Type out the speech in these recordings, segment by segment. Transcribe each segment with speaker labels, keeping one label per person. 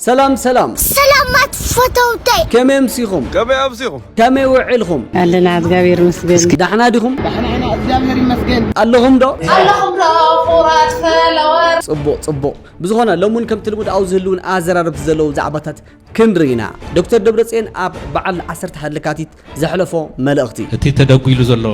Speaker 1: ሰላም ሰላም ሰላማት
Speaker 2: ፈተውተይ ከመይ ኣምሲኹም
Speaker 1: ከመይ ኣምሲኹም ከመይ ውዒልኹም ኣለና እግዚኣብሔር
Speaker 3: ይመስገን ዳሕና ዲኹም ዳሕና
Speaker 1: ኢና እግዚኣብሔር
Speaker 4: ይመስገን ኣለኹም ዶ ኣለኹም
Speaker 1: ዶ
Speaker 2: ኩራት ፈለወር ጽቡቕ ጽቡቕ
Speaker 1: ብዝኾነ ሎም እውን ከምቲ ልሙድ ኣብ ዝህልውን ኣዘራረብቲ ዘለዉ ዛዕባታት ክንርኢና ዶክተር ደብረፅዮን ኣብ በዓል 11 ለካቲት ዘሕለፎ መልእኽቲ። እቲ ተደጒሉ
Speaker 5: ዘሎ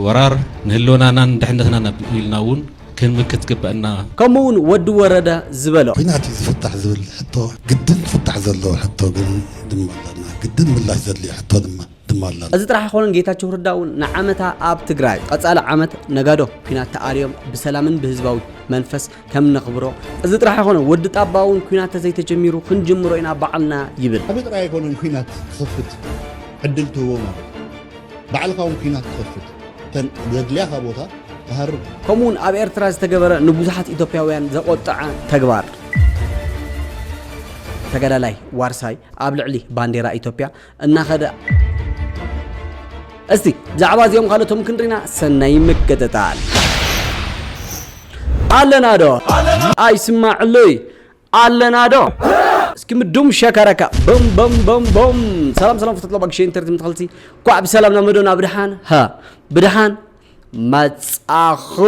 Speaker 5: ወራር ንህልውናናን ድሕነትናን ኣብ ኢልና እውን ክንምክት ይግበእና። ከምኡ እውን ወዲ
Speaker 1: ወረደ ዝበሎ። ኲናት እዩ ዝፍታሕ
Speaker 6: ዝብል ሕቶ ግድን ክፍታሕ ዘለዎ ሕቶ ግን ድማ ኣለና። ግድን ምላሽ ዘድልዮ ሕቶ ድማ ድማ ኣለና። እዚ ጥራሕ ኣይኮነን ጌታቸው
Speaker 1: ረዳ እውን ንዓመታ ኣብ ትግራይ፣ ቐፃሊ ዓመት ነጋዶ ኲናት ተኣልዮም ብሰላምን ብህዝባዊ መንፈስ ከም ነኽብሮ እዚ ጥራሕ ኣይኮነ ወዲ ጣባ እውን ኩናት ተዘይተጀሚሩ ክንጅምሮ ኢና በዓልና ይብል ኣበይ ጥራይ ኣይኮነን ኩናት
Speaker 6: ክኸፍት ዕድል ትህቦ ማለት ባዕልካ እውን ኩናት ክኸፍት ተን ዘድልያኻ ቦታ ትሃርብ ከምኡ እውን ኣብ ኤርትራ
Speaker 1: ዝተገበረ ንብዙሓት ኢትዮጵያውያን ዘቆጠዐ ተግባር ተጋዳላይ ዋርሳይ ኣብ ልዕሊ ባንዴራ ኢትዮጵያ እናኸደ እስቲ ብዛዕባ እዚኦም ካልኦቶም ክንሪና ሰናይ ምክትታል ኣለና ዶ ኣይስማዕለይ ኣለና ዶ እስኪ ምዱም ሸከረካ ቦም ቦም ቦም ቦም ሰላም ሰላም ፍትሎ ባግሸ ኢንተርት ምትኸልቲ ኳዕ ብሰላም ናብ መዶና ብድሓን ሃ ብድሓን መጻኹም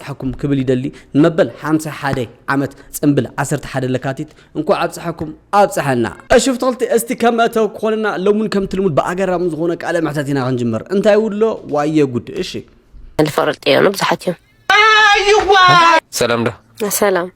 Speaker 1: ኣብፀሐኩም ክብል ይደሊ ንመበል ሓምሳ ሓደ ዓመት ፅንብል ዓሰርተ ሓደ ለካቲት እንኳዕ ኣብፀሐኩም ኣብፀሐና። እሺ ፍትክልቲ እስቲ ከም መእተዊ ክኾነና ሎምን ከምቲ ልሙድ ብኣገራሚ ዝኾነ ቃለ መሕተት ኢና ክንጅምር እንታይ ውሎ ዋየ ጉድ እሺ። ልፈርጥ እዮኑ
Speaker 3: ብዙሓት እዮም።
Speaker 7: ሰላም ዶ ሰላም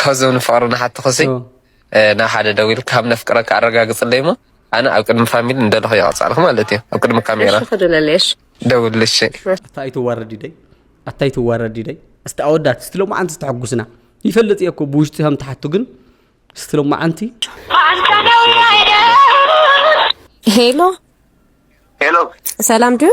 Speaker 7: ካብዞም ንፍቅሪ ንሓትኽሲ ናብ ሓደ ደዊልኪ ካብ ነፍቅረኪ ኣረጋግፅለይ እሞ ኣነ ኣብ ቅድሚ ፋሚሊ እንደለኹ የቐፅዓልኪ ማለት እዩ ኣብ ቅድሚ ካሜራ
Speaker 3: ደውልሽ
Speaker 7: ኣታ ኣይትዋረዲ ደይ ኣታ
Speaker 1: ኣይትዋረዲ ደይ እስቲ ኣወዳት እስቲ ሎማዓንቲ ዝተሐጉስና ይፈልጥ እየ እኮ ብውሽጢ ከም ትሓቱ ግን እስቲ ሎማዓንቲ
Speaker 3: ሄሎ ሄሎ ሰላም ድዩ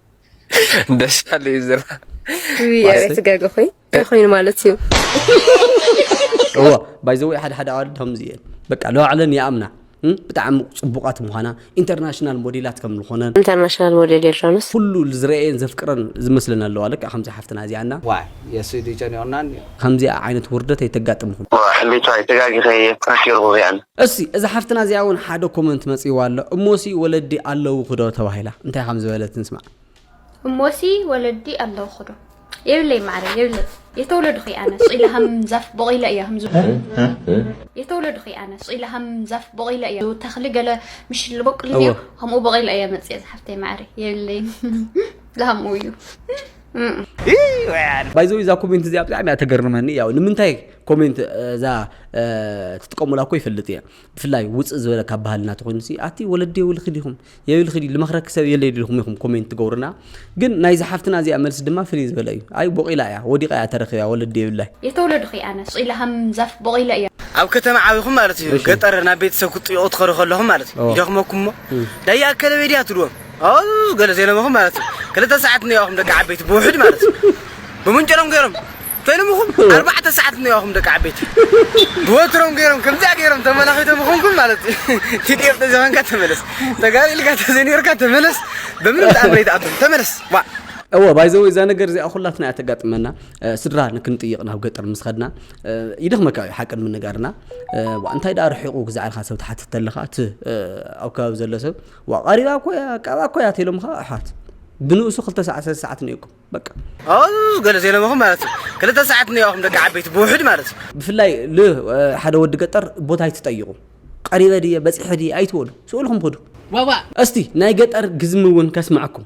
Speaker 7: ደሻለ እዩ ዝራ ኣቤት
Speaker 3: ገገ ኮይ ኮይኑ ማለት እዩ
Speaker 1: እዎ ባይዘወይ ሓደ ሓደ ኣዋልድ ከምዚ እየን በቃ ለባዕለን ይኣምና ብጣዕሚ ፅቡቃት ምዃና ኢንተርናሽናል ሞዴላት ከም ዝኾነን ኢንተርናሽናል ሞዴል
Speaker 3: የድራኑስ ኩሉ ዝረአየን
Speaker 1: ዘፍቅረን ዝመስለን ኣለዋ ልክዕ ከምዚ ሓፍትና እዚኣና ዋይ የሱይ ድዩ
Speaker 4: ጨኒቁናን እዩ። ከምዚኣ ዓይነት
Speaker 1: ውርደት ኣይተጋጥምኹም። ሕሌታ ኣይ ተጋጊከ
Speaker 8: እየ ፕራክ ገርኩ እዚኣን። እስይ እዛ ሓፍትና
Speaker 1: እዚኣ ውን ሓደ ኮመንት መጺዋ ኣሎ እሞሲ ወለዲ ኣለውኺ ዶ ተባሂላ እንታይ ከም ዝበለት ንስማዕ። እሞሲ
Speaker 9: ወለዲ ኣለውኺ ዶ። የብለይ ማዓረይ የብለይ የተወለድኹ እየ ኣነ ስቅ ኢለ ከም ዛፍ ቦቂለ እየ ከም ዝብሉ የተወለድኹ እየ ኣነ ስቅ ኢለ ከም ዛፍ ቦቂለ እየ ተኽሊ ገለ ምሽ ልቦቅል እንድዩ ከምኡ ቦቂለ እየ መጽየ ዝሓፍተይ ማዓረይ የብለይን ላሃምኡ እዩ
Speaker 1: ባይዘው እዛ ኮሜንት እዚኣ ብጣዕሚ እያ ተገርመኒ ያው ንምንታይ ኮሜንት እዛ ትጥቀሙላ እኮ ይፈልጥ እየ ብፍላይ ውፅእ ዝበለ ካብ ባህልና ተኮይኑ ሲ ኣቲ ወለዲ የብልኪ ዲኹም የብልኪ ዲ ልመክረኪ ሰብ የለ ዲኹም ኢኹም ኮሜንት ትገብሩና ግን ናይዚ ሓፍትና እዚኣ መልሲ ድማ ፍልይ ዝበለ እዩ ኣይ ቦቂላ እያ
Speaker 9: ወዲቃ
Speaker 1: እያ
Speaker 9: ተረኪባ
Speaker 1: ወለዲ የብላይ የተወለድኺ
Speaker 9: ኣነ
Speaker 1: ስቂላ ከም
Speaker 9: ዛፍ
Speaker 1: ቦቂለ
Speaker 9: እያ
Speaker 1: ኣብ
Speaker 4: ከተማ ዓብኹም ማለት እዩ ገጠር ናብ ቤተሰብ ክትጥይቁ ትኸዱ ከለኹም ማለት እዩ ይደኽመኩምሞ ዳያ ኣከለበይ ድያ ትብልዎም ኣው ገለ ዘይለመኹም ማለት እዩ ክልተ ሰዓት እኒኦኹም ደቂ ዓበይቲ ብውሕድ ማለት እዩ ብምንጭሮም ገይሮም ፈይሎምኹም ኣርባዕተ ሰዓት እኒኦኹም ደቂ ዓበይቲ ብወትሮም ገይሮም ከምዚኣ ገይሮም ተመላኺቶም ይኾንኩም ማለት እዩ ቲዲኤፍ ተዘይኮንካ ተመለስ ተጋሪ ኢልካ ተዘይነርካ ተመለስ በምንም ተኣምር ይተኣብም ተመለስ ዋ እወ ባይዘወ እዛ
Speaker 1: ነገር እዚኣ ኩላትና እያ ተጋጥመና ስድራ ንክንጥይቕ ናብ ገጠር ምስ ኸድና ይደኽመካ እዩ ሓቂ ንምንጋርና እንታይ ደኣ ርሒቑ ግዛዕልካ ሰብ ትሓትት ኣለኻ እቲ ኣብ ከባቢ ዘሎ ሰብ ዋእ ቀሪባ እኮ እያ ቀባ እኮ እያ ተኢሎምኻ ኣሕዋት ብንኡሱ ክልተ ሰዓት ሰለስተ ሰዓት እኒኦኩም በቃ ኣው ገለ
Speaker 4: ዘይለምኹም ማለት እዩ ክልተ ሰዓት እኒኦኹም ደቂ ዓበይቲ ብውሕድ ማለት እዩ ብፍላይ ል
Speaker 1: ሓደ ወዲ ገጠር ቦታ ኣይትጠይቑ ቀሪበ ድየ በፂሐ ድየ ኣይትበሉ ስእልኩም ክዱ ዋእ ዋእ እስቲ
Speaker 4: ናይ ገጠር
Speaker 1: ግዝሚ እውን ከስማዕኩም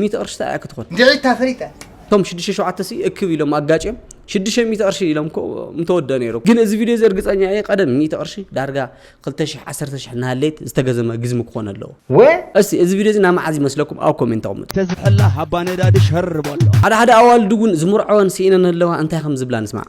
Speaker 1: ሚእቲ ቅርሺ ታይ እያ ክትኾን? ድዒት ታፈሪጠ።
Speaker 4: እቶም ሽዱሽተ ሸውዓተ
Speaker 1: ሲ እክብ ኢሎም ኣጋጭዮም ሽዱሽተ ሚእቲ ቅርሺ ኢሎም እኮ ምተወደእ ነይሩ ግን እዚ ቪድዮ እዚ እርግፀኛ እየ ቀደም ሚእቲ ቅርሺ ዳርጋ ክልተ ሽሕ ዓሰርተ ሽሕ እናሃለየት ዝተገዘመ ግዝሚ ክኾን ኣለዎ ወ እስቲ እዚ
Speaker 4: ቪድዮ እዚ ናይ
Speaker 1: መዓዝ ይመስለኩም ኣብ ኮሜንት ኣቕምጡ ተዝሕላ ሃባ
Speaker 10: ነዳዲ ሸር በሎ። ሓደ ሓደ ኣዋልድ እውን
Speaker 1: ዝምርዐወን ስኢነን ኣለዋ እንታይ ከም ዝብላ ንስማዕ።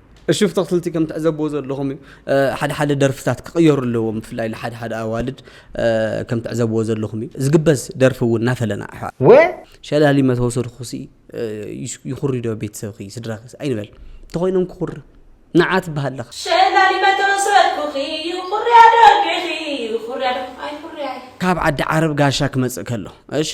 Speaker 2: እሹፍ
Speaker 1: ተኽልቲ ከም ትዕዘብዎ ዘለኹም እዩ ሓደ ሓደ ደርፍታት ክቕየሩ ኣለዎም ብፍላይ ንሓደ ሓደ ኣዋልድ ከም ትዕዘብዎ ዘለኹም እዩ ዝግበዝ ደርፊ እውን እናፈለና ኣሕዋት ወ
Speaker 4: ሸላሊ
Speaker 1: መተወሰድኹሲ ይኹሪዶ ቤተሰብኺ ስድራኺ ኣይንበል እንተኾይኖም ክኹሪ ንዓ ትበሃል ኣለኻ ሸላሊ
Speaker 2: መተወሰድኩኺ ይኹርያ ደርፊኺ ይኹርያ ደርፊ ኣይኹርያ ካብ ዓዲ ዓረብ ጋሻ
Speaker 1: ክመፅእ ከሎ እሺ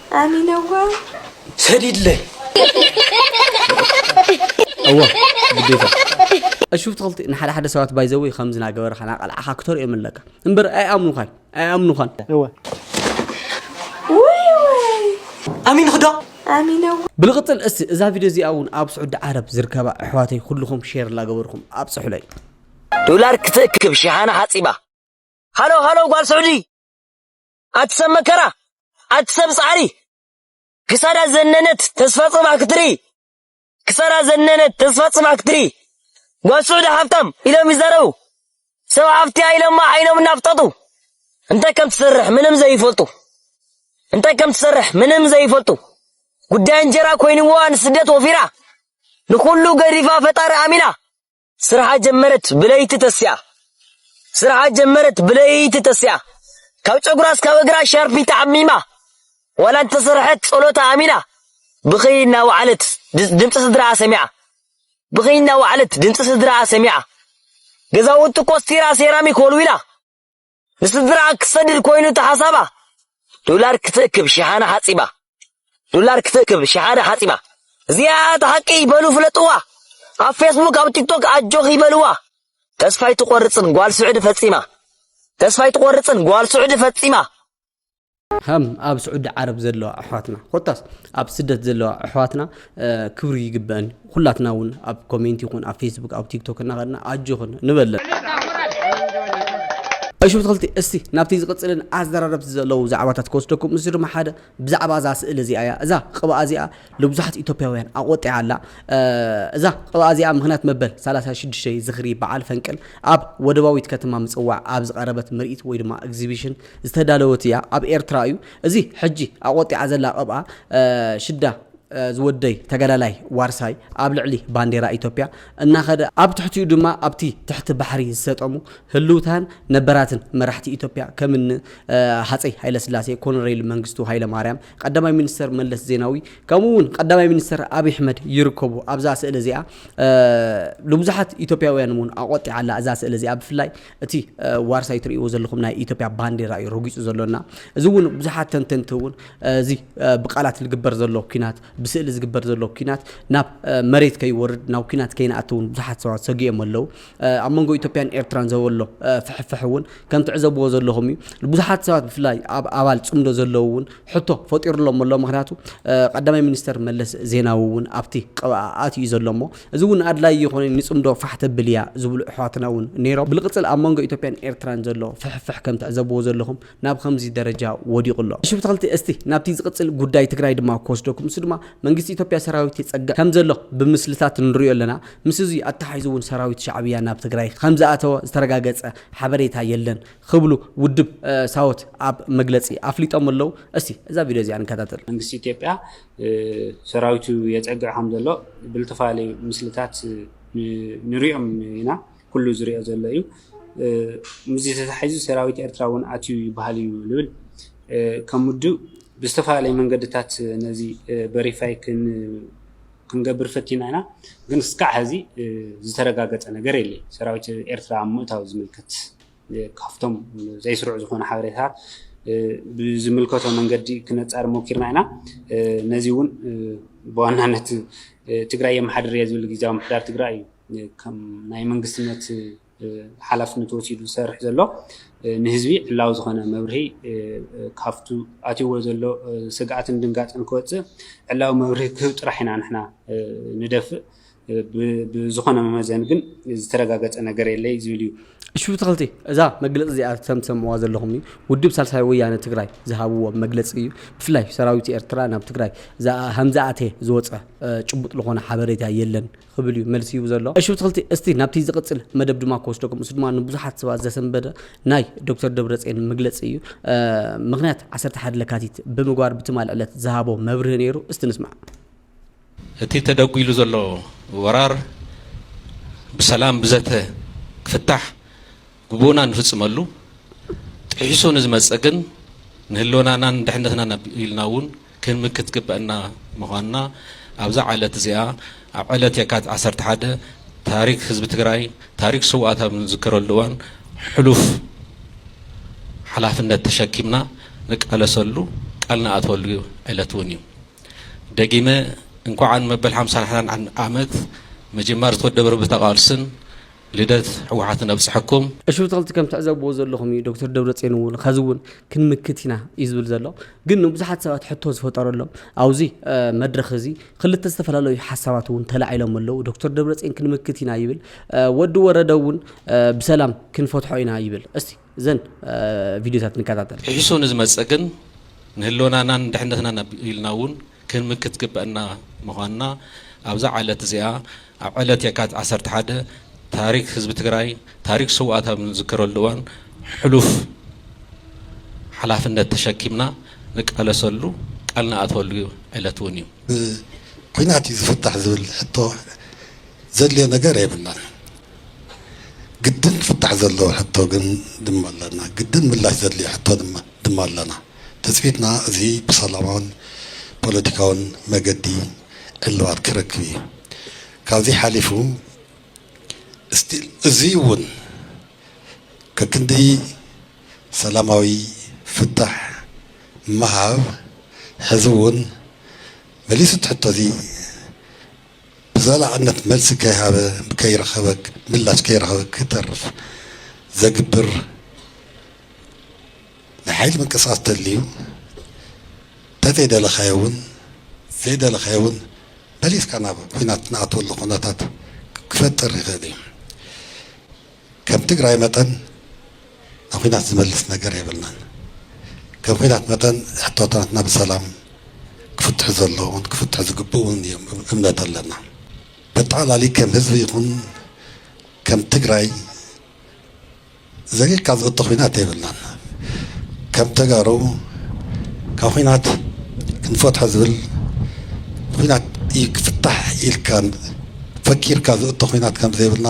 Speaker 4: ኣሚነዋ
Speaker 2: ሰዲድለይ
Speaker 1: እወ ግዴታ እሹፍ ትኽልቲ ንሓደ ሓደ ሰባት ባይዘወይ ከምዚ ናገበርካ ናቀልዓኻ ክተርእዮም ኣለካ እምበር ኣይኣምኑኻን ኣይኣምኑኻን እወ
Speaker 4: ኣሚን ክዶ ኣሚነዋ
Speaker 2: ብልቕፅል እስቲ እዛ
Speaker 1: ቪድዮ እዚኣ እውን ኣብ ስዑዲ ዓረብ ዝርከባ ኣሕዋተይ ኩልኹም ሼር ላገበርኩም ኣብፅሑለይ ዶላር
Speaker 11: ክትእክብ ሽሓነ ሓፂባ ሃሎ ሃሎ ጓል ስዑዲ ኣቲ ሰብ መከራ ኣቲ ሰብ ጻዕሪ ክሳዳ ዘነነት ተስፋ ጽባሕ ክትርኢ ክሳዳ ዘነነት ተስፋ ጽባሕ ክትርኢ ጓል ስዑዲ ሃብታም ኢሎም ይዛረቡ ሰብ ሃብቲያ ኢሎማ ዓይኖም እናፍጠጡ እንታይ ከም ትሰርሕ ምንም ዘይፈልጡ እንታይ ከም ትሰርሕ ምንም ዘይፈልጡ ጉዳይ እንጀራ ኮይንዋ ንስደት ወፊራ ንኹሉ ገዲፋ ፈጣሪ ኣሚና ስርሓ ጀመረት ብለይቲ ተሲኣ ስርሓ ጀመረት ብለይቲ ተሲኣ ካብ ጨጉራ እስካብ እግራ ሻርፒ ተዓሚማ ዋላ እንተሰርሐት ጸሎታ ኣሚና ብኽይ እናወዓለት ድምፂ ስድራኣ ሰሚዓ ብኽይ እናወዓለት ድምፂ ስድራኣ ሰሚዓ ገዛውቲ ኮስቲራ ሴራሚክ ወልዊላ ንስድራኣ ክትሰድድ ኮይኑ እቲ ሓሳባ ዶላር ክትእክብ ሽሓነ ሓጺባ ዶላር ክትእክብ ሽሓነ ሓጺባ እዚኣ እታ ሓቂ በሉ ፍለጥዋ ኣብ ፌስቡክ ኣብ ቲክቶክ ኣጆኽ ይበልዋ ተስፋ ኣይትቆርጽን ጓል ስዑዲ ፈጺማ ተስፋ ኣይትቆርጽን ጓል ስዑዲ ፈጺማ
Speaker 1: ሃም ኣብ ስዑዲ ዓረብ ዘለዋ ኣሕዋትና ኮታስ ኣብ ስደት ዘለዋ ኣሕዋትና ክብሪ ይግበአን እዩ ኩላትና እውን ኣብ ኮሜንት ይኹን ኣብ ፌስቡክ ኣብ ቲክቶክ እናኸድና ኣጆኽን ንበለን እሹ ተኸልቲ እስቲ ናብቲ ዝቕፅልን ኣዘራረብቲ ዘለዉ ዛዕባታት ክወስደኩም እዚ ድማ ሓደ ብዛዕባ እዛ ስእሊ እዚኣ እያ እዛ ቅብኣ እዚኣ ንብዙሓት ኢትዮጵያውያን ኣቆጢዓ ኣላ እዛ ቅብኣ እዚኣ ምክንያት መበል 36 ዝኽሪ በዓል ፈንቅል ኣብ ወደባዊት ከተማ ምፅዋዕ ኣብ ዝቐረበት ምርኢት ወይ ድማ ኤግዚቢሽን ዝተዳለወት ኢያ ኣብ ኤርትራ ኢዩ እዚ ሕጂ ኣቆጢዓ ዘላ ቅብኣ ሽዳ ዝወደይ ተጋዳላይ ዋርሳይ ኣብ ልዕሊ ባንዴራ ኢትዮጵያ እናኸደ ኣብ ትሕቲኡ ድማ ኣብቲ ትሕቲ ባሕሪ ዝሰጠሙ ህልውታን ነበራትን መራሕቲ ኢትዮጵያ ከምኒ ሃጸይ ሃይለስላሴ ኮነሬል መንግስቱ ሃይለማርያም ቀዳማይ ሚኒስተር መለስ ዜናዊ ከምኡ እውን ቀዳማይ ሚኒስተር ኣብይ ኣሕመድ ይርከቡ ኣብዛ ስእሊ እዚኣ ንብዙሓት ኢትዮጵያውያን እውን ኣቆጢዓ ኣላ እዛ ስእሊ እዚኣ ብፍላይ እቲ ዋርሳይ ትርእይዎ ዘለኹም ናይ ኢትዮጵያ ባንዴራ እዩ ረጊጹ ዘሎና። እዚ እውን ብዙሓት ተንተንቲ እውን እዚ ብቃላት ዝግበር ዘሎ ኩናት ብስእሊ ዝግበር ዘሎ ኩናት ናብ መሬት ከይወርድ ናብ ኩናት ከይንኣቱ እውን ብዙሓት ሰባት ሰጊኦም ኣለው። ኣብ መንጎ ኢትዮጵያን ኤርትራን ዘበሎ ፍሕፍሕ እውን ከም ትዕዘብዎ ዘለኹም እዩ። ብዙሓት ሰባት ብፍላይ ኣብ ኣባል ጽምዶ ዘለው እውን ሕቶ ፈጢሩሎም ኣሎ። ምክንያቱ ቀዳማይ ሚኒስተር መለስ ዜናዊ እውን ኣብቲ ቅብኣ ኣትዩ ዘሎ እሞ እዚ እውን ኣድላይ እይኾነን ይጽምዶ ፋሕ ተብል እያ ዝብሉ እሕዋትና እውን ነይሮም። ብልቅጽል ኣብ መንጎ ኢትዮጵያን ኤርትራን ዘሎ ፍሕፍሕ ከም ትዕዘብዎ ዘለኹም ናብ ኸምዚ ደረጃ ወዲቑ ኣሎ። እሺ ብተክልቲ እስቲ ናብቲ ዝቅጽል ጉዳይ ትግራይ ድማ ክወስደኩም እሱ ድማ መንግስቲ ኢትዮጵያ ሰራዊት የጸግዕ ከም ዘሎ ብምስልታት ንሪኦ ኣለና ምስ እዙይ ኣተሓሒዙ እውን ሰራዊት ሻዕብያ ናብ ትግራይ ኸም ዝኣተወ ዝተረጋገጸ ሓበሬታ የለን ኽብሉ ውድብ ሳወት ኣብ መግለጺ ኣፍሊጦም ኣለው። እስቲ እዛ ቪድዮ እዚኣ ንከታተል። መንግስቲ ኢትዮጵያ
Speaker 12: ሰራዊቱ የፀግዕ ከም ዘሎ ብልተፈላለዩ ምስልታት ንሪኦም ኢና። ኩሉ ዝሪኦ ዘሎ እዩ። ምስዚ ተተሓሒዙ ሰራዊት ኤርትራ እውን ኣትዩ ይበሃል እዩ ዝብል ከም ውድብ ብዝተፈላለየ መንገድታት ነዚ በሪፋይ ክንገብር ፈቲና ኢና። ግን እስካዕ ሕዚ ዝተረጋገፀ ነገር የለይ ሰራዊት ኤርትራ ምእታው ዝምልከት። ካብቶም ዘይስሩዕ ዝኾነ ሓበሬታታት ብዝምልከቶ መንገዲ ክነፃር ሞኪርና ኢና። ነዚ እውን ብዋናነት ትግራይ የመሓድር እየ ዝብል ግዜያዊ ምሕዳር ትግራይ እዩ ከም ናይ መንግስትነት ሓላፍነት ወሲዱ ዝሰርሕ ዘሎ ንህዝቢ ዕላዊ ዝኾነ መብርሂ ካብቱ ኣትይዎ ዘሎ ስግኣትን ድንጋፅን ክወፅእ ዕላዊ መብርሂ ክህብ ጥራሕ ኢና ንሕና ንደፍእ ብዝኾነ መመዘኒ ግን ዝተረጋገፀ ነገር የለይ ዝብል እዩ። እሺ ብትኽልቲ
Speaker 1: እዛ መግለፂ እዚኣ ከም ትሰምዕዋ ዘለኹም ውድብ ሳልሳይ ወያነ ትግራይ ዝሃብዎ መግለፂ እዩ። ብፍላይ ሰራዊት ኤርትራ ናብ ትግራይ ሀምዝኣቴ ዝወፀ ጭቡጥ ልኾነ ሓበሬታ የለን ኽብል እዩ መልሲ ሂቡ ዘሎ። እሺ ብትኽልቲ እስቲ ናብቲ ዝቕፅል መደብ ድማ ክወስደኩም እሱ ድማ ንብዙሓት ሰባት ዘሰንበደ ናይ ዶክተር ደብረፅዮን መግለፂ እዩ። ምኽንያት ዓሰርተ ሓደ ለካቲት ብምግባር ብትማል ዕለት ዝሃቦ መብርሂ ነይሩ እስቲ ንስማዕ።
Speaker 5: እቲ ተደጒሉ ዘሎ ወራር ብሰላም ብዘተ ክፍታሕ ግቡእና ንፍፅመሉ፣ ጥሒሱ ንዝመፅእ ግን ንህልውናናን ድሕነትናን ኣቢልና እውን ክንምክት ዝግበእና ምዃንና ኣብዛ ዕለት እዚኣ ኣብ ዕለት የካቲት ዓሰርተ ሓደ ታሪክ ህዝቢ ትግራይ ታሪክ ስውኣት ኣብ እንዝክረሉ እዋን ሕሉፍ ሓላፍነት ተሸኪምና ንቃለሰሉ ቃል ንኣትወሉ ዕለት እውን እዩ። ደጊመ እንኳዕ ን መበል ሓምሳን ሓዳን ዓመት ምጅማር ዝተወደበ ርብታ ቃልስን ልደት ሕወሓትን ኣብፀሐኩም። ኣሽብተክልቲ ከም
Speaker 1: ትዕዘብዎ ዘለኹም እዩ ዶክተር ደብረፅዮን እውን ኸዚ እውን ክንምክት ኢና እዩ ዝብል ዘሎ ግን ንብዙሓት ሰባት ሕቶ ዝፈጠረሎም ኣብዚ መድረኽ እዚ ክልተ ዝተፈላለዩ ሓሳባት እውን ተላዒሎም ኣለዉ ዶክተር ደብረፅዮን ክንምክት ኢና ይብል ወዲ ወረደ እውን ብሰላም ክንፈትሖ ኢና ይብል እስቲ እዘን ቪድዮታት ንከታተል። ሒሱ ንዝመጽእ ግን
Speaker 5: ንህልወናናን ድሕነትናን ኣቢልና እውን ክንምክት ግበእና ምዃንና ኣብዛ ዓለት እዚኣ ኣብ ዕለት የካቲት ዓሰርተ ሓደ ታሪክ ህዝቢ ትግራይ ታሪክ ስውኣት ኣብ ንዝክረሉ እዋን ሕሉፍ ሓላፍነት ተሸኪምና ንቃለሰሉ ቃል ንኣትወሉ ዕለት እውን እዩ። ብኲናት
Speaker 6: እዩ ዝፍታሕ ዝብል ሕቶ ዘድልዮ ነገር የብልናን። ግድን ክፍታሕ ዘለዎ ሕቶ ግን ድማ ኣለና። ግድን ምላሽ ዘድልዮ ሕቶ ድማ ኣለና። ትጽቢትና እዚ ብሰላማውን ፖለቲካውን መገዲ ዕልባት ክረክብ እዩ። ካብዚ ሓሊፉ እዚ'ውን ከክንዲ ሰላማዊ ፍታሕ ምሃብ ሕዚ'ውን መሊሱ እቲ ሕቶ'ዚ ብዘላቕነት መልሲ ከይሃበ ከይረኸበ ምላሽ ከይረኸበ ክተርፍ ዘግብር ናይ ሓይሊ ምንቅስቓስ ተድልዩ ተዘይደለኻዮ እውን ዘይደለኻዮ እውን መሊስካ ናብ ኩናት ንኣትወሉ ኩነታት ክፈጥር ይኽእል እዩ ከም ትግራይ መጠን ንኩናት ዝመልስ ነገር የብልናን ከም ኩናት መጠን ሕቶታትና ብሰላም ክፍትሑ ዘለዎም ክፍትሑ ዝግብኡን እዮም እምነት ኣለና በጠቓላሊ ከም ህዝቢ ይኹን ከም ትግራይ ዘጊርካ ዝእቶ ኩናት የብልናን ከም ተጋሩ ካብ ኩናት ክንፈትሖ ዝብል ኩናት እዩ ክፍታሕ ኢልካ ፈኪርካ ዝእቶ ኩናት ከም ዘይብልና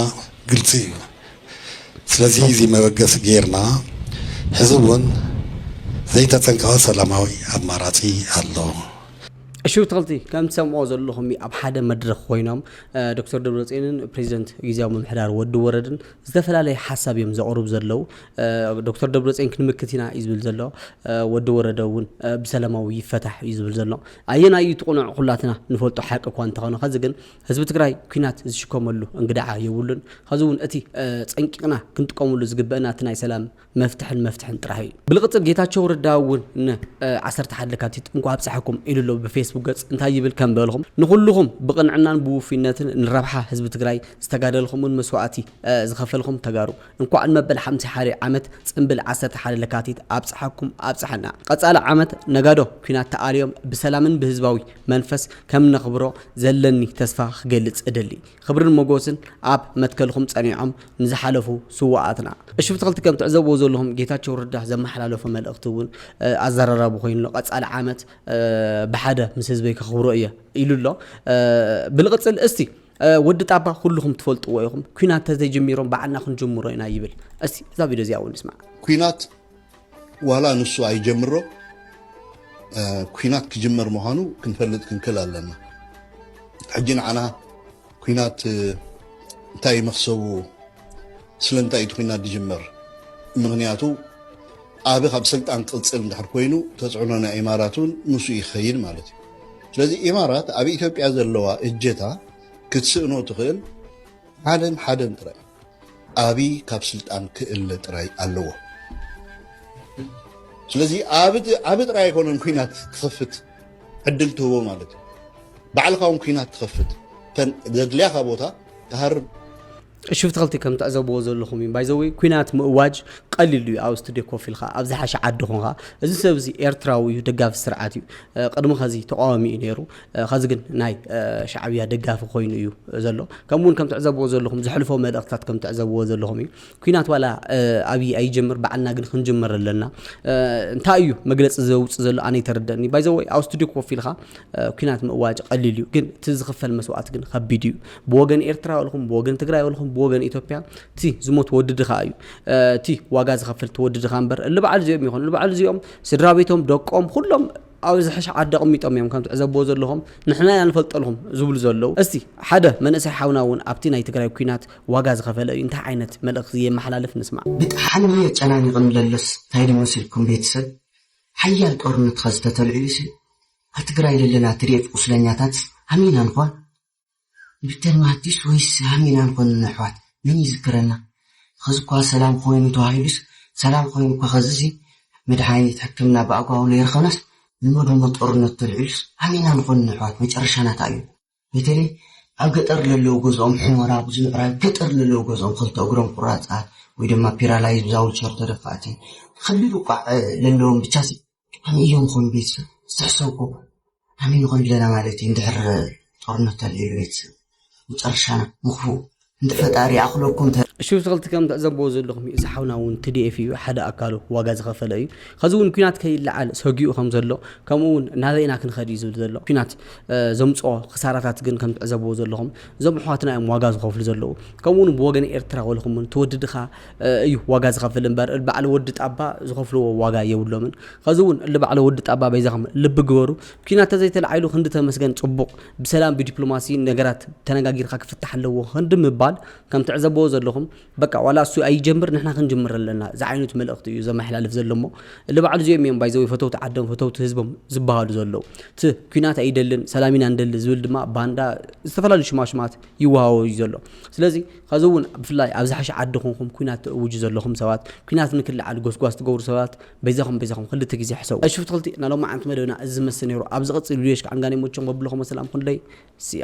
Speaker 6: ግልፂ እዩ ስለዚ እዚ መበገሲ ገይርና ሕዚ እውን ዘይተፀንቀቐ ሰላማዊ ኣማራፂ ኣሎ።
Speaker 1: ሽውትኽልቲ ከም ትሰምዕዎ ዘለኹም እዩ ኣብ ሓደ መድረኽ ኮይኖም ዶክተር ደብረፅዮንን ፕሬዚደንት ግዜያዊ ምምሕዳር ወዲ ወረድን ዝተፈላለየ ሓሳብ እዮም ዘቕርቡ ዘለው ዶክተር ደብረፅዮን ክንምክት ኢና እዩ ዝብል ዘሎ ወዲ ወረደ እውን ብሰላማዊ ይፈታሕ እዩ ዝብል ዘሎ ኣየናይ እዩ ትቕኑዕ ኩላትና ንፈልጦ ሓቂ እኳ እንተኾነ ከዚ ግን ህዝቢ ትግራይ ኩናት ዝሽከመሉ እንግድዓ የብሉን። ኸዚ እውን እቲ ፀንቂቕና ክንጥቀመሉ ዝግበእና እቲ ናይ ሰላም መፍትሕን መፍትሕን ጥራሕ እዩ። ብልቕፅል ጌታቸው ረዳ እውን ን ዓሰርተ ሓደ ለካቲት እንኳዕ ኣብፀሐኩም ኢሉ ኣሎ ብፌስቡክ ገፅ እንታይ ይብል ከም በልኹም ንኹሉኹም ብቕንዕናን ብውፉይነትን ንረብሓ ህዝቢ ትግራይ ዝተጋደልኹምን መስዋእቲ ዝኸፈልኹም ተጋሩ እንኳዕ ንመበል ሓምሳ ሓደ ዓመት ጽንብል ዓሰርተ ሓደ ለካቲት ኣብጽሓኩም ኣብጽሓና። ቐጻሊ ዓመት ነጋዶ ኩናት ተኣልዮም ብሰላምን ብህዝባዊ መንፈስ ከም ነኽብሮ ዘለኒ ተስፋ ክገልጽ እደሊ። ኽብርን ሞጎስን ኣብ መትከልኹም ጸኒዖም ንዝሓለፉ ስውኣትና። እሺ ብትክልቲ ከም ትዕዘብዎ ዘለኹም ጌታቸው ረዳ ዘመሓላለፎ መልእኽቲ እውን ኣዘራራቢ ኮይኑ ኣሎ ቀፃሊ ዓመት ብሓደ ምስ ህዝበይ ከኽብሮ እየ ኢሉ ኣሎ ብልቕፅል እስቲ ወዲ ጣባ ኩልኹም ትፈልጥዎ ኢኹም ኩናት ተዘይጀሚሮም ባዕልና ክንጅምሮ ኢና ይብል እስቲ እዛ ቪድዮ እዚኣ እውን ንስማዕ ኩናት
Speaker 13: ዋላ ንሱ ኣይጀምሮ ኩናት ክጅመር ምዃኑ ክንፈልጥ ክንክል ኣለና ሕጂ ንዓና ኩናት እንታይ መክሰቡ ስለምንታይ እቲ ኩናት ዝጅመር ምክንያቱ ኣብ ካብ ስልጣን ቅፅል እንድሕር ኮይኑ ተፅዕኖ ናይ ኢማራት እውን ምስኡ ይኸይድ ማለት እዩ ስለዚ ኢማራት ኣብ ኢትዮጵያ ዘለዋ እጀታ ክትስእኖ ትኽእል ሓደን ሓደን ጥራይ እዩ። ኣብይ ካብ ስልጣን ክእለ ጥራይ ኣለዎ። ስለዚ ኣብይ ጥራይ ኣይኮነን ኩናት ክኸፍት ዕድል ትህቦ ማለት እዩ። ባዕልኻ እውን ኩናት ትኸፍት እተን ዘድልያኻ ቦታ ትሃርም። ዕሽብ
Speaker 1: ተክልቲ ከም ትዕዘብዎ ዘለኹም እዩ ባይ ዘ ወይ ኩናት ምእዋጅ ቀሊል እዩ ኣብ ስቱድዮ ኮፍ ኢልካ ኣብ ዝሓሸ ዓዲ ኾንካ እዚ ሰብ እዚ ኤርትራዊ እዩ ደጋፊ ስርዓት እዩ ቅድሚ ከዚ ተቃዋሚ እዩ ነይሩ ከዚ ግን ናይ ሻዕብያ ደጋፊ ኮይኑ እዩ ዘሎ ከምኡ እውን ከም ትዕዘብዎ ዘለኹም ዘሕልፎ መልእኽትታት ከም ትዕዘብዎ ዘለኹም እዩ ኩናት ዋላ ኣብይ ኣይጀምር በዓልና ግን ክንጅምር ኣለና እንታይ እዩ መግለፂ ዘውፅእ ዘሎ ኣነ ይተረደእኒ ባይ ዘ ወይ ኣብ ስቱድዮ ኮፍ ኢልካ ኩናት ምእዋጅ ቀሊል እዩ ግን እቲ ዝኽፈል መስዋእቲ ግን ከቢድ እዩ ብወገን ኤርትራ ወልኹም ብወገን ትግራይ ወልኹም ብወገን ኢትዮጵያ እቲ ዝሞት ወዲ ድኻ እዩ እቲ ዋጋ ዝኸፍል እቲ ወዲ ድኻ እምበር እሊ በዓል እዚኦም ይኾኑ እሊ በዓል እዚኦም ስድራ ቤቶም ደቆም ኩሎም ኣብ ዝሕሽ ዓዲ ኣቕሚጦም እዮም ከም ትዕዘብዎ ዘለኹም ንሕና ኢና ንፈልጠልኹም ዝብሉ ዘለዉ እስቲ ሓደ መንእሰይ ሓውና እውን ኣብቲ ናይ ትግራይ ኩናት ዋጋ ዝኸፈለ እዩ እንታይ ዓይነት መልእኽቲ የመሓላልፍ ንስማዕ ብጣዕሚ የጨናንቕኒ
Speaker 14: ለሎስ ታይ ዶ መሲልኩም ቤተሰብ ሓያል ጦርነት ኸዝተተልዕሉሲ ኣብ ትግራይ ለለና tdf ቁስለኛታትስ ኣመይ ኢና ንኾን ዶክተር ማቲስ ወይስ ሃሚና ንኮንኖ ኣሕዋት መን ይዝክረና ኸዚ እኳ ሰላም ኾይኑ ተባሂሉስ ሰላም ኾይኑ እኳ ኸዚ እዚ መድሓኒት ሕክምና ብኣግባቡ ለይረኸብናስ እሞ ደሞ ጦርነት ተልዒሉስ ሃሚና ንኮንኖ ኣሕዋት መጨረሻና ታይ እዩ በተለይ ኣብ ገጠር ለለዉ ገዝኦም ሑሞራ ብዙ ምዕራብ ገጠር ለለዉ ገዝኦም ኸልተ እግሮም ቁራፃት ወይ ድማ ፒራላይዝ ብዛውልቸር ተደፋእቲ ኸቢድ ውቃዕ ለለዎም ብቻ ኣበይ እዮም ኾኑ ቤተሰብ ዝተሕሰብኩ ኣበይ ንኾን ኣለና ማለት እዩ እንድሕር ጦርነት ተልዩ ቤተሰብ መጨረሻና ምኽፉ እንደ ፈጣሪ ኣኽለኩም ተ እሺ ስክልቲ ከም
Speaker 1: ትዕዘብዎ ዘለኹም እዩ እዚ ሓውና እውን ትዲኤፍ እዩ ሓደ ኣካሉ ዋጋ ዝኸፈለ እዩ ከዚ እውን ኩናት ከይለዓል ሰጊኡ ከም ዘሎ ከምኡ እውን ናበይና ክንኸድ እዩ ዝብል ዘሎ ኩናት ዘምፅኦ ክሳራታት ግን ከም ትዕዘብዎ ዘለኹም እዞም ኣሕዋትና እዮም ዋጋ ዝኸፍሉ ዘለዉ ከምኡውን ብወገን ኤርትራ ወልኹም እውን ትወድድኻ እዩ ዋጋ ዝኸፍል እምበር እል ባዕለ ወዲ ጣባ ዝኸፍልዎ ዋጋ የብሎምን ኸዚ እውን እል ባዕለ ወዲ ጣባ በይዛኸም ልቢ ግበሩ ኲናት ተዘይተላዒሉ ክንዲ ተመስገን ፅቡቕ ብሰላም ብዲፕሎማሲ ነገራት ተነጋጊርካ ክፍታሕ ኣለዎ ክንዲ ምባል ከም ትዕዘብዎ ዘለኹም በቃ ዋላ እሱ ኣይጀምር ንሕና ክንጅምር ኣለና ዝዓይነቱ መልእኽቲ እዩ ዘመሓላልፍ ዘሎ እሞ እል ባዕሉ እዚኦም እዮም ባይዘወይ ፈተውቲ ዓዶም ፈተውቲ ህዝቦም ዝበሃሉ ዘለዉ እቲ ኲናት ኣይደልን ሰላም ኢና ንደሊ ዝብል ድማ ባንዳ ዝተፈላለዩ ሽማሽማት ይወሃቦ እዩ ዘሎ ስለዚ ከዚ እውን ብፍላይ ኣብ ዝሓሸ ዓዲ ኮንኩም ኩናት ትእውጁ ዘለኹም ሰባት ኩናት ንክልዓል ጎስጓስ ትገብሩ ሰባት በይዛኹም በይዛኹም ክልተ ግዜ ሕሰቡ ኣይ ሽፍት ክልቲ ናይ ሎማዓንቲ መደብና እዚ ዝመስል ነይሩ ኣብ ዝቕፅል ቪድዮ ሽካዕ እንጋን ይመቸኹም በብለኹም ሰላም ኩንደይ ስያ